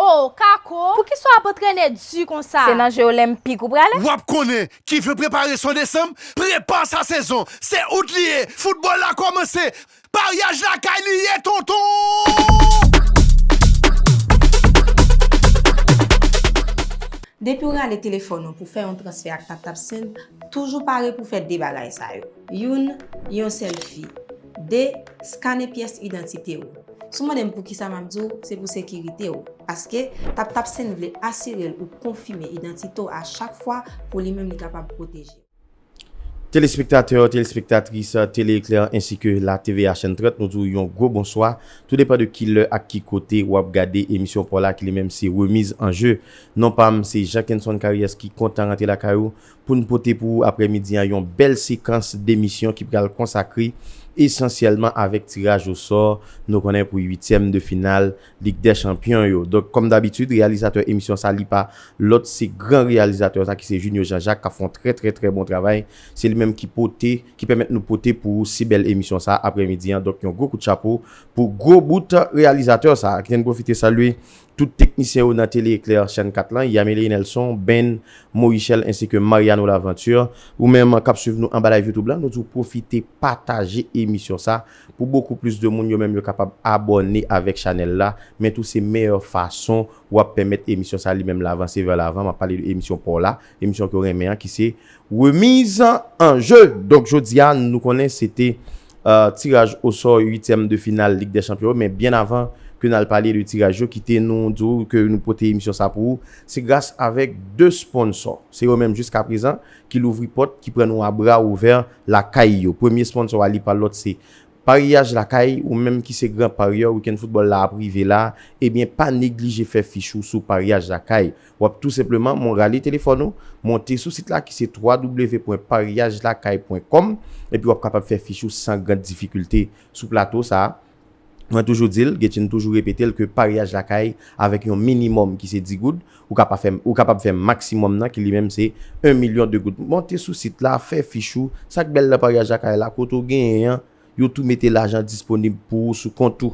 Oh Kako, poukisa w ap antrene di konsa? Se nan je olenpik ou prale? Wap konnen ki vle prepare son desanm prepa sa sezon se out li ye foutbòl la kòmanse Maryaj lakay li ye tonton. Depi w rale telefòn ou pou fè yon transfè ak TapTap Send, toujou pare pou fè 2 bagay sa yo. Youn, Yon sèlfi. 2, Skane pyès idantite ou. Si w mande m poukisa m ap di w, se pou sekirite w. Paske, TapTap Send vle asire l ou konfime idantite w a chak fwa pou li menm li kapab pwoteje w. Telespektatè, telespektatris Télé Éclair ensi ke la TV a chèn 30 nou di w yon gwo bonswa tou depan de ki lè ak ki kote wap gade emisyon paw la ki li menm se remiz an je non pam se Jean Kenson Caries ki kontan rantre lakay ou poun pote pou ou aprè midi an yon bèl sekans demisyon ki pral konsakre esansyèlman avèk tiraj osò nou konnen pou uityèm de final Lig dè chanpyon yo. Donk kòm dabitid reyalizatè emisyon sa li pa lòt se gran reyalizatè sa ki se Junio Jean Jacques kap fè yon trè trè trè bon travay. Se li menm ki pote, ki pèmèt nou pote pou ou si bèl emisyon sa aprè midi an. Donk yon gwo kout chapo pou gwo bout reyalizatè sa. Kite n pwofite salye tout teknisyen yo nan Télé Éclair chèn 4 lan, Yameley Nelson, Ben, Morichel ensi ke Mariano Laventure. Ou menm kap swiv nou anba live youtube lan nou di w pwofite pataje emisyon sa. Pou bokou plis de moun yo menm yo kapab abòne avèk chanèl la, men tou se meyè fason wap pèmèt emisyon sa li menm la vanse vè lavan, map pale de emisyon paw la, emisyon ke w renmen an ki se Remiz an je! Donk jodi a nou konnen se te tiraj osò 8 tièm de final lig dè chanpyon yo, men byen avan ke nal pale de tiraj yo kite nou di w ke nou pote emisyon sa pou ou, se gras avèk 2 sponsò, se yo menm jiska prezan ki louvri pòt, ki pran nou a bra ouvè lakay yo. Premye sponsò a li pa lòt se Paryaj Lakay, ou menm ki se gran paryè, wikenn foutbòl la ap rive la, ebyen pa neglije fè fich ou sou Paryaj Lakay. W ap tou senpleman mon rale telefòn ou, monte sou sit la ki se www.paryajlakay.com epi w ap kapab fè fich ou san gran difikilte. Sou plato sa a. Mwen toujou di l, Guetchine toujou repete l ke paryaj lakay avèk yon minimòm ki se 10 goud, ou ka pa fè, ou kapab fè maksimòm nan ki li menm se 1 milyon 2 goud. Monte sou sit la, fè fich ou, sa k bèl nan paryaj lakay la, kote ou genyen an, yo tou mete lajan disponib pou ou sou kont ou.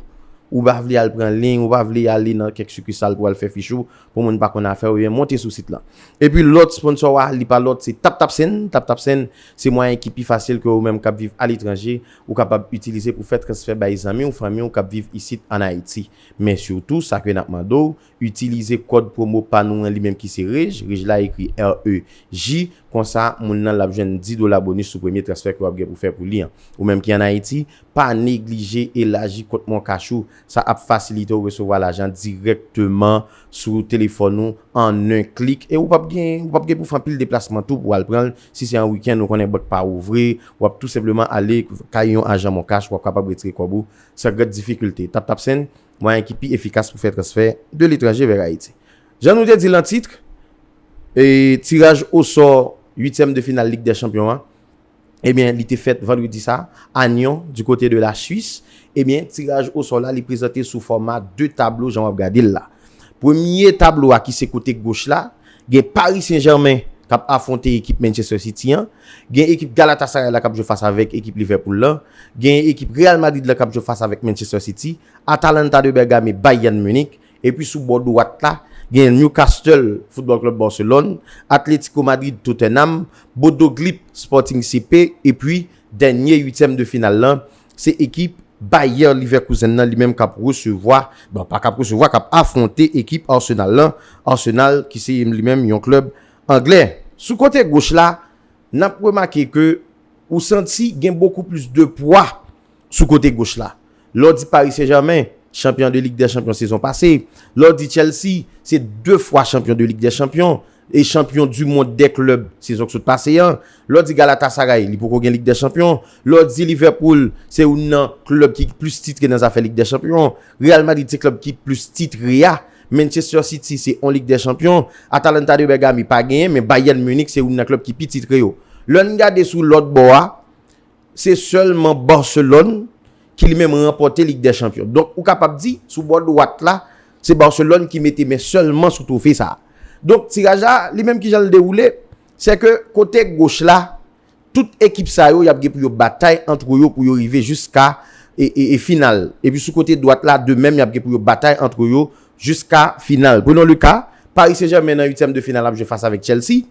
Ou pa vle al pran liy, ou pa vle ale nan kèk sikisal pou al fè fich ou, pou moun pa konn afè ou, ebyen monte sou sit lan. Epi lòt sponsò a, li pa lòt se TapTapSend, TapTapSend se mwayen ki pi fasil ke ou menm k ap viv aletranje, Ou kapab itilize pou fè transfè bay zanmi ou fanmi ou kap viv isit an Ayiti. Men surtout sa ke nap mande w, itilize kòd promo pa nou an li menm ki se REJ, REJ la ekri REJ, konsa moun nan lap jwenn 10 dola bonus sou premye transfè ke wap gen pou fè pou li an. Ou menm ki an Ayiti, pa neglije elaji kont moncash ou, sa ap fasilite w resevwa lajan dirèkteman sou telefòn ou an 1 klik e ou pap gen ou pap gen pou fè anpil deplasman tou pou al pran l Si se an wikenn ou konnen bank pa ouvri, w ap tou senpleman ale kay yon ajan moncash w ap kapab retire kòb ou san grand difikilte. TapTapSend, mwayen ki pi efikas pou fè transfè de letranje vè Ayiti. Jan nou te di l an titre, tiraj osò uityèm de final Lig dè Chanpyon an, ebyen li te fèt vandredi sa a Nyon du kote de la Swis. Ebyen tiraj osò la li prezante sou fòma 2 tablo jan w ap gade l la. Premye tablo a ki se kote goch la, Gen Paris Saint Germain k ap afwonte ekip Manchester City an, gen ekip Galatasaray la k ap jwe fas avèk ekip Liverpool lan, gen ekip Real Madrid la k ap jwe fas avèk Manchester City, Atalanta de Bergame Bayern Munich, epi sou bò dwat la gen Newcastle Football Club Barcelone, Atlético Madrid Tottenham, Bodo Glimt Sporting CP epi dènye uityèm de final lan Se ekip Bayer Leverkusen nan li menm k ap resevwa, bon pa k ap resevwa, k ap afwonte ekip Arsenal lan, Arsenal ki se li menm yon klèb anglè. Sou kote goch la, n ap remake ke ou santi gen bokou plis de pwa sou kote goch la. Lè w di Paris Saint-Germain, chanpyon de Lig dè Chanpyon sezon pase, lè w di Chelsea, se 2 fwa chanpyon de Lig dè Chanpyon, E chanpyon du mond dè klèb sezon k sot pase an. Lè w di Galatasaray, li poko gen Lig dè Chanpyon. Lè w di Liverpool, se youn nan klèb ki plis titre nan zafè Lig dè Chanpyon. Real Madrid se klèb ki plis titre a. Manchester City se on Lig dè Chanpyon. Atalanta de Bergame pa genyen, men Bayern Munich se youn nan klèb ki pi titre yo. Lè n gade sou lòt bò a. Se sèlman Barcelone ki li menm ranpòte Lig dè Chanpyon. Donk ou kapab di, sou bò dwat la, se Barcelone ki mete men sèlman sou twofe sa a. Donk tiraj la, li menm ki jan l dewoule, se ke kote goch la, tout ekip sa yo y ap gen pou yo batay antre yo pou yo rive jiska final. Epi sou kote dwat la, de menm y ap gen pou yo batay antre yo jiska final. Prenons le cas, Paris Saint-Germain nan uityèm de final ap jwe fas avèk Chelsea.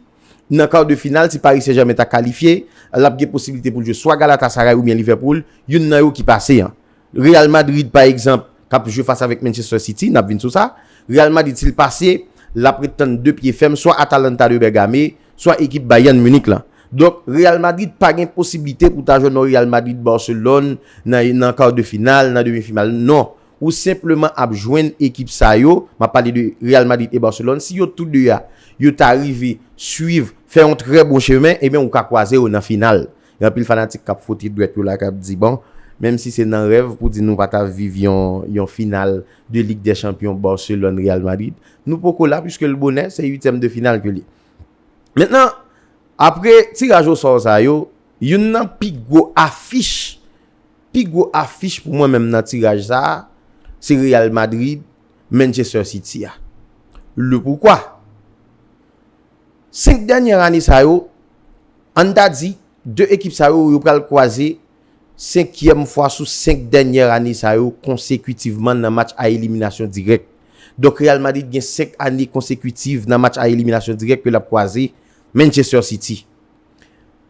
Nan kar de final, si Paris Saint-Germain ta kalifye, l ap gen posibilite pou l jwe swa Galatasaray oubyen Liverpool, youn nan yo ki pase an. Real Madrid pa egzanp, k ap jwe fas avèk Manchester City, n ap vin sou sa, Real Madrid si l pase, l ap ret tann de pye fèm swa Atalanta de Bergame, swa ekip Bayern Munich lan. Donk, Real Madrid pa gen posibilite pou ta jwenn yon Real Madrid-Barcelone nan kar de final, nan demi final, non. Ou senpleman ap jwenn ekip sa yo, m ap pale de Real Madrid e Barcelone, si yo tou 2 a, yo ta rive swiv, fè yon trè bon chemen, ebyen ou ka kwaze yo nan final. Gen anpil fanatik k ap fwote dwèt yo la, k ap di, bon, menm si se nan rèv pou di nou pa ta viv yon yon final de Lig dè Chanpyon Barcelone, Real Madrid, nou poko la, puiske l bonè, se uityèm de final ke li. Mentnan, apre tiraj osò sa yo, youn nan pi gwo afich Pi gwo afich pou mwen menm nan tiraj sa a, se Real Madrid, Manchester City a. Le pourquoi? 5 dènyè ane sa yo, ann ta di, 2 ekip sa yo, yo pral kwaze senkyèm fwa sou 5 dènyè ane sa yo konsekutivman nan match a eliminasyon dirèk. Donk Real Madrid gen 5 ane konsekutiv nan match a eliminasyon dirèk ke l ap kwaze Manchester City.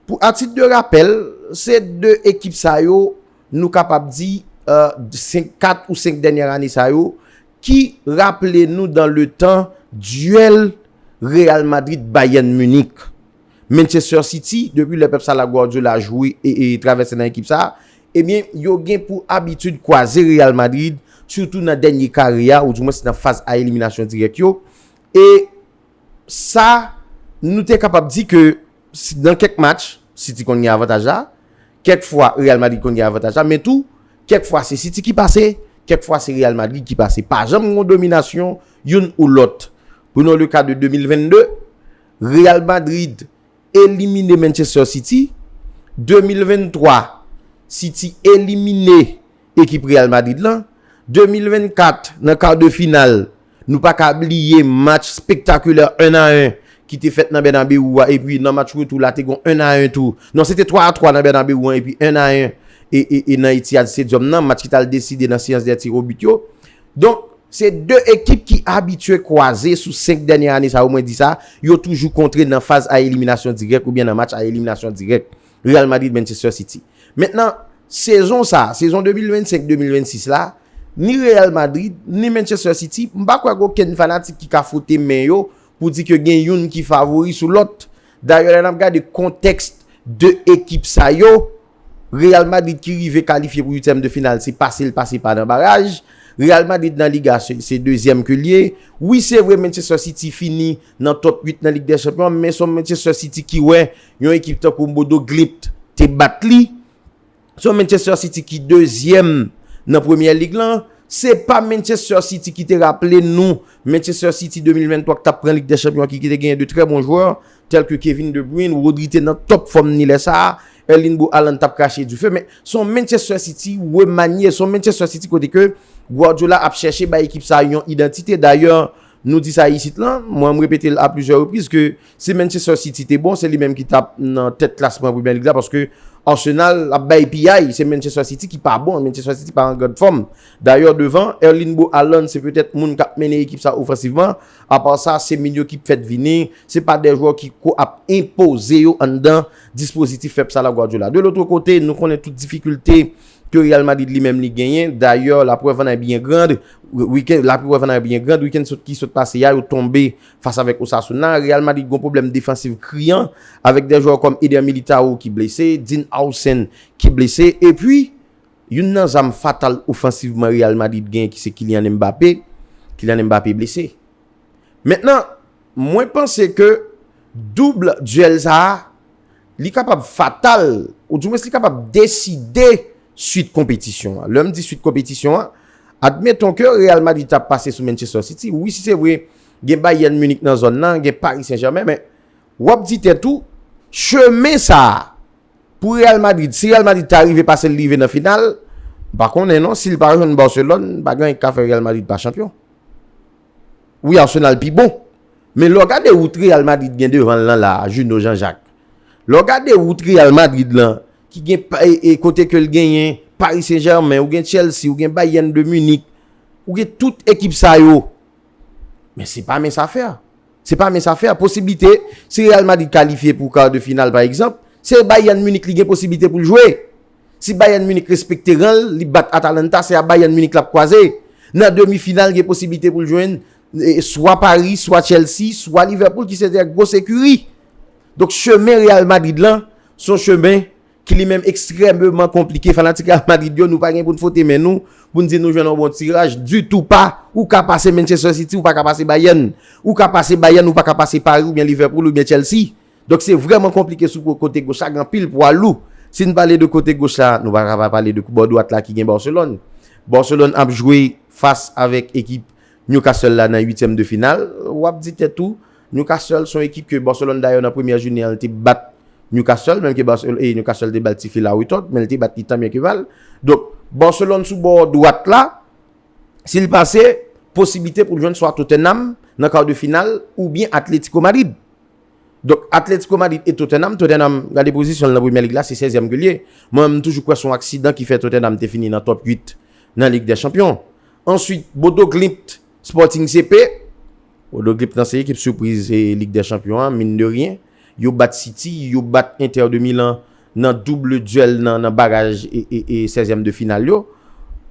Pou a tit de rapèl, se 2 ekip sa yo nou kapab di 4 ou 5 dènyè ane sa yo ki raple nou dan le tan duèl Real Madrid Bayern Munich. Manchester City, depi lè Pep Salah Guardiola jwe e travèse nan ekip sa, ebyen yo gen pou abitid kwaze Real Madrid sitou nan dènye kare a ou di mwens nan faz a eliminasyon dirèk yo e sa, nou te kapab di ke nan kèk match, City konn gen avantaj la, kèk fwa Real Madrid konn gen avantaj la, men tou, kèk fwa se City ki pase, kèk fwa se Real Madrid ki pase. Pa janm gen yon dominasyon youn ou lòt. Prenons le cas de 2022, Real Madrid. elimine Manchester City, 2023 City elimine ekip Real Madrid lan, 2024 nan kar de final nou pa ka bliye match spektakulè 1 a 1 ki te fèt nan Bernabeu a epi nan match retou la te gon 1 a 1 tou, non se te 3 a 3 nan Bernabeu an epi 1 a 1 e nan Etihad Stadium nan match ki t al deside nan seyans dè tiro bit yo. Donk, se 2 ekip ki abitye kwaze sou 5 dènye ane sa yo mwen di sa, yo toujou kontre nan faz a eliminasyon dirèk oubyen nan match a eliminasyon dirèk, Real Madrid, Manchester City. Mentnan, sezon sa, sezon 2025, 2026 la, ni Real Madrid, ni Manchester City, m pa kwè gen okenn fanatik ki ka fwote men yo pou di ke gen youn ki favori sou lòt. Dayè lè n ap gade kontèks 2 ekip sa yo, Real Madrid ki rive kalifye pou uityèm de final se pase l pase pa nan baraj. Real Madrid nan Liga se dezyèm ke l ye. Wi se vre Manchester City fini nan top 8 nan Lig dè Chanpyon an men son Manchester City ki wè yon ekip tankou Bodo Glimt te bat li. Son Manchester City ki dezyèm nan Premyè Lig lan. Se pa Manchester City ki te raple nou Manchester City 2023 k t ap pran Lig dè Chanpyon an ki te genyen de trè bon jwè. Tèlke Kevin De Bruyne, Rodri te nan top fòm ni lè sa a, Erling Bro Haaland tap krache dife men se yon Manchester City remanye, se yon Manchester City kote ke Guardiola ap chèche bay ekip sa a yon idantite. Dayè nou di sa isit lan, mwen m repete l a plizyè repriz ke si Manchester City te bon se li menm ki tap nan tèt klasman Premier League la paske Arsenal ap bay piyay, se Manchester City ki pa bon, Manchester City pa an grand fòm. Dayè devan Erling Bro Haaland se petèt moun kap mennen ekip sa a ofansivman, Apa sa, se min yo ki fèt vini, se pa de jwè ki ko ap enpoze yo anndan dispozitif Pep sa la Guardiola. De lotre kote, nou konnen tout difikilte ke Real Madrid li menm li genyen. Dayè, la prèv an è byen grand, wiken, la prèv an è byen grand, wiken sot ki sot pase a, yo tonbe fas avèk Osasuna. Real Madrid gon pwoblèm defansiv kriyan, avèk de jwè kòm Eder Militao ki blese, Dean Howson ki blese, epi, Youn nan zam fatal ofansivman Real Madrid genyen ki se Kylian Mbappé, Kylian Mbappé blese. Mentnan, mwen panse ke double duel sa a, li kapab fatal, ou di mwens li kapab deside suit konpetisyon an. Lè m di suit konpetisyon an, admeton ke Real Madrid ta pase sou Manchester City, wi si se vre gen Bayern Munich nan zòn nan, gen Paris Saint-Germain, men w ap di tèt ou, chemen sa a, Pou Real Madrid, si Real Madrid ta rive pase l rive nan final, m pa konnen non, si l pa jwenn Barcelone, pa gen anyen k ka fè Real Madrid pa chanpyon. Wi Arsenal pi bon, men lè w gade wout Real Madrid gen devan l lan la, Junot Jean Jacques, lè w gade wout Real Madrid lan, ki gen e kote ke l genyen Paris Saint Germain, ou gen Chelsea, ou gen Bayern de Munich, ou gen tout ekip sa yo, men se pa mens afè. Se pa mince afè, posiblite si Real Madrid kalifye pou kar de final pa egzanp, se Bayern Munich li gen posiblite pou l jwe. Si Bayern Munich respekte ran l, li bat Atalanta, se a Bayern Munich l ap kwaze. Nan demi final gen posiblite pou l jwenn swa Paris, swa Chelsea, swa Liverpool ki se 2 gros ekiri. Donk chemen Real Madrid lan son chemen ki li menm ekstrememan konplike, fanatik Real Madrid yo, nou pa gen pou n fwote men nou, pou n di nou jwenn yon bon tiraj, ditou pa, ou ka pase Manchester City, ou pa ka pase Bayern, ou ka pase Bayern, ou pa ka pase Paris, ou byen Liverpool, ou byen Chelsea, donk se vreman konplike sou kote goch la, gen anpil pwa lou, si n pale de kote goch la, nou pa ka pa pale de bò dwat la ki gen Barcelone, Barcelone ap jwe fas avèk ekip Newcastle la nan uityèm de final, w ap di tèt ou. Newcastle son ekip ke Barcelone dayè nan premyè jounen an li te bat Newcastle menm ke Barcelone Newcastle te bal ti fil a retòd men li te bat li tanbyen ke mal donk Barcelone sou bò dwat la si li pase posiblite pou l jwenn swa Tottenham nan kar de final oubyen Atletico Madrid donk Atletico Madrid e Tottenham Tottenham gade pozisyon l nan premyè lig la se sèzyèm ke l ye mwen menm m toujou kwè son aksidan ki fè Tottenham te fini nan top 8 nan lig dè chanpyon answit Bodo Glimt Sporting CP, Odoglip nan se ekip sipriz Lig dè Chanpyon an, min de ryen. Yo bat City, yo bat Inter de Milan nan double duel nan baraj e sèzyèm de final yo.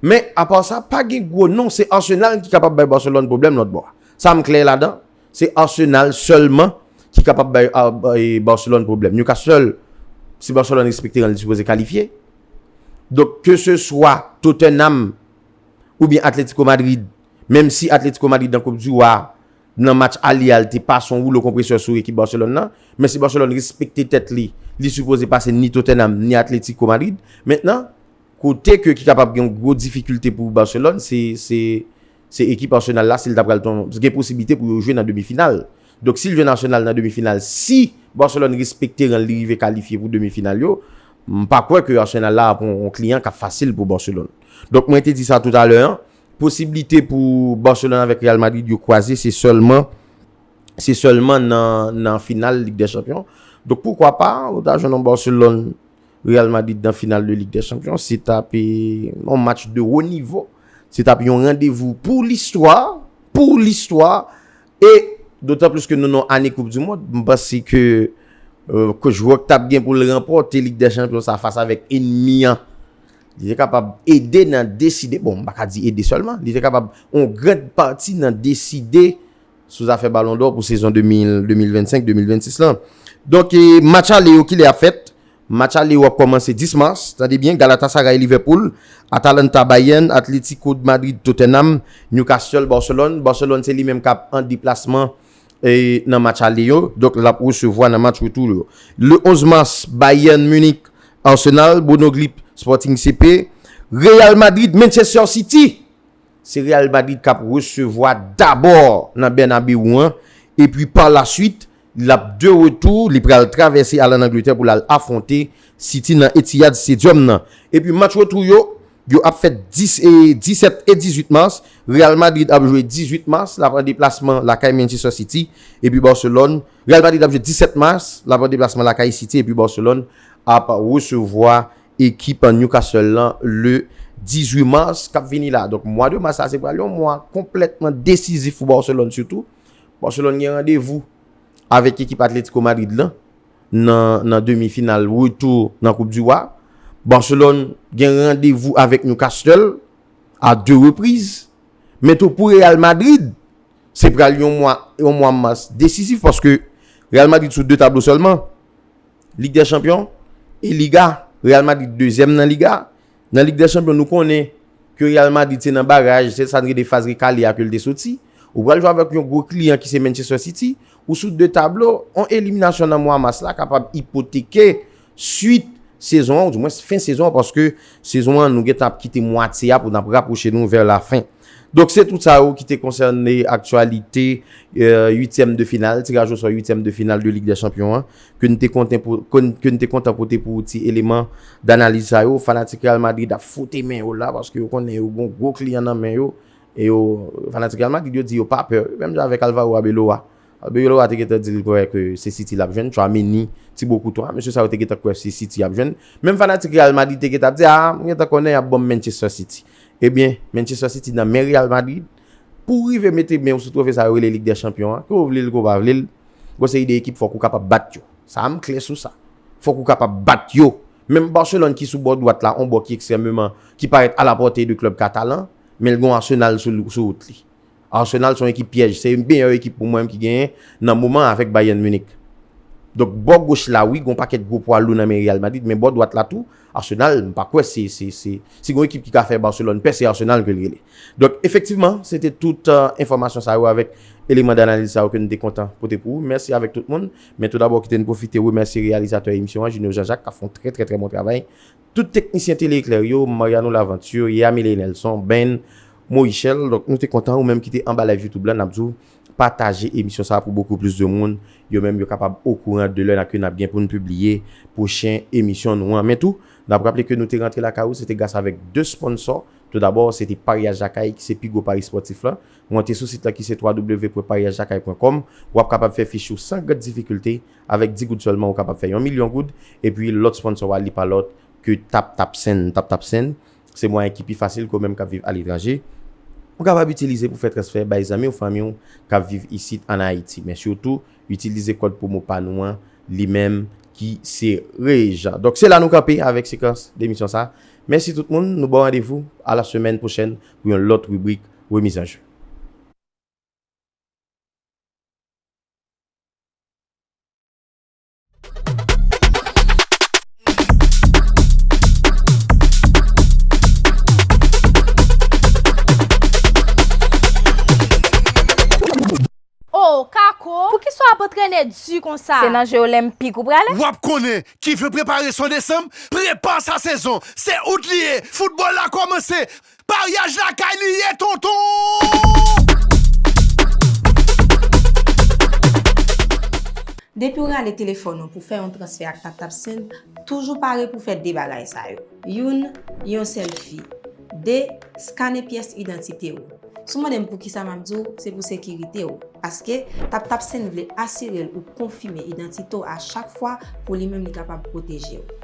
Men, apa sa, pa gen gwo non, se Arsenal ki kapab bay Barcelone pwoblèm lòt bò a. Sa m klè ladan, se Arsenal sèlman ki kapab bay Barcelone pwoblèm. Newcastle, si Barcelone respekte ran li sipoze kalifye. Donk, ke se swa Tottenham, oubyen Atletico Madrid, menm si Atletico Madrid nan koup di wa a, nan match ale a li te pase yon woulo konpresè sou ekip Barcelone nan, men si Barcelone respekte tèt li, li sipoze pase ni Tottenham ni Atletico Madrid. Mentnan, kote ke ki kapab gen yon gwo difikilte pou Barcelone se ekip Arsenal la si li ta pral, gen posiblite pou yo jwe nan demi final. Donk si l jwenn Arsenal nan demi final si Barcelone respekte ran l li rive kalifye pou demi final yo m pa kwè ke Arsenal la ap on kliyan k ap fasil pou Barcelone. Donk mwen te di sa toutalè an posiblite pou Barcelone avèk Real Madrid yo kwaze se sèlman se sèlman nan nan final Lig dè Chanpyon donk poukwa pa ou ta jwenn on Barcelone Real Madrid nan final de Lig dè Chanpyon se t ap on match de wo nivo se t ap yon randevou pou listwa pou listwa E dotan plis ke nou nan ane koup du mond, m panse ke coach Rock tap gen pou l ranpòte lig dè chanpyon sa fas avèk enmi an, li te kapab ede nan deside, bon m pa ka di ede sèlman, li te kapab yon grand pati nan deside sou zafè balon dò pou sezon 2025, 2026 lan. Donk match ale yo kilè ap fèt? Match ale yo ap kòmanse 10 mas, tande byen, Galatasaray-Liverpool, Atalanta-Bayern, Atlético de Madrid-Tottenham, Newcastle-Barcelone. Barcelone se li menm k ap an deplasman nan match ale yo, donk l ap resevwa nan match retou yo. Le 11 mas, Bayern Munich-Arsenal, Bruno Glip, Sporting CP, Real Madrid-Manchester City. Se Real Madrid k ap resevwa dabò nan Bernabeu an, epi pa la suit, L ap de retou, li pral travèse al ann Angletè pou l al afwonte City nan Etihad Stadium nan. Epi match retou yo, yo ap fèt 10 e 17 e 18 mas. Real Madrid ap jwe 18 mas, l ap an deplasman lakay Manchester City epi Barcelone. Real Madrid ap jwe 17 mas, l ap an deplasman lakay City epi Barcelone ap resevwa ekip Newcastle lan le 18 mas k ap vini la. Donk mwa de mas sa se pral yon mwa konplètman desizif pou Barcelone sitou. Barcelone gen randevou avèk ekip Atletico Madrid lan nan demi final retou nan koup du Roi. Barcelone gen randevou avèk Newcastle a 2 repriz. Men tou pou Real Madrid se pral yon mwa mas desisif paske Real Madrid sou 2 tablo sèlman, Lig dè chanpyon e Liga. Real Madrid 2 zièm nan Liga Nan Lig dè Chanpyon nou konnen ke Real Madrid se nan baraj, se sa n rele faz rekale a ke l te soti. Ou pral jwe avèk yon gwo kliyan ki se Manchester City. Ou sou 2 tablo, yon eliminasyon nan mwa mas la kapab ipoteke swit sezon an ou dimwens fen sezon an paske sezon an nou gentan ap kite mwatye a pou n ap rapwoche nou vè lafen. Donk se tout sa yo ki te konsène aktyalite uityèm de final, tiraj osò uityèm de final de Lig dè Chanpyon an, ke n te konten pou, ke n te kontan pote pou ou ti eleman danaliz sa yo. Fanatik Real Madrid ap fwote men yo la, paske yo konnen yo gon gwo kliyan nan men yo, e yo, fanatik Real Madrid yo di yo pa pè, menm jan avèk Alvaro Arbeloa. Arbeloa te gentan di l kwè ke se City l ap jwenn, Tchouaméni, Thibaut Courtois, mesye sa yo te gentan kwè se City y ap jwenn. Menm fanatik Real Madrid te gentan ap di, a, m gentan konnen y ap ban m Manchester City. Ebyen, Manchester City nan men Real Madrid, pouw rive mete menw sou trofe sa yo rele Lig dè Chanpyon an, ke w vlel ke w pa vlel, gwo seri de ekip fòk ou kapab bat yo. Sa a m klè sou sa. Fòk ou kapab bat yo. Menm Barcelone ki sou bò dwat la, on bò ki ekstrèmeman, ki parèt a la pòte de klèb katalan, menl gon Arsenal sou wout li. Arsenal son ekip pyèj, se meyè ekip pou mwen ki genyen nan moman avèk Bayern Munich. Donk bò goch la wi gon pakèt gwo pwa lou nan men Real Madrid men bò dwat la tou Arsenal m pa kwè se se se si gon ekip ki ka fè Barcelone pè se Arsenal ke l rele. Donk efektivman se te tout enfòmasyon sa yo avèk eleman danaliz sa yo ke n te kontan pote pou ou. Mèsi avèk tout moun men tou dabò kite n pwofite remèsye reyalizatè emisyon an Junio Jean Jacques k ap fè yon trè trè trè bon travay. Tout teknisyen Tele Eklè yo, Mariano Laventure, Yamile Nelson, Ben, Moyichel, donk nou te kontan ou menm ki te anba live YouTube la, n ap di w pataje emisyon sa a pou bokou plis de moun, yo menm yo kapab okouran de lè n ake n ap gen pou n pibliye pwochen emisyon nou an. Men tou, n ap raple ke nou te rantre lakay ou se te gras avèk 2 sponsò, tou dabò se te Paryaj Lakay ki se pi gwo pari spòtif la, monte sou sit la ki se www.paryajlakay.com, w ap kapab fè fich ou san grande difikilte Avèk 10 goud sèlman ou kapab fè yon milyon goud epi lòt sponsò a li pa lòt ke TapTapSend, TapTapSend se mwayen ki pi fasil ke ou menm kap viv aletranje ou kapab itilize pou fè transfè bay zanmi ou fanmi ou kap viv isit an Ayiti men sitou itilize kòd pwomo pa nou an li menm ki se REJ donk se la nou kanpe avèk sekans emisyon sa mèsi tout moun nou baw randevou a la semèn pwochèn pou yon lòt ribrik Remizanje. Oh Kako, poukisa w ap antrene di konsa? Se nan je olenpik ou prale? W ap konnen, ki vle prepare son desanm, prepa sa sezon! Se out li ye, foutbòl la kòmanse! Maryaj lakay li ye tonton! Depi w rale telefòn ou pou fè yon transfè ak TapTap Send, toujou pare pou fè 2 bagay sa yo. Youn, yon sèlfi. 2, skane pyès idantite ou. Si w mande m poukisa m ap di w, se pou sekirite w. Paske, TapTap Send vle asire l ou konfime idantite w a chak fwa pou li menm li kapab pwoteje w.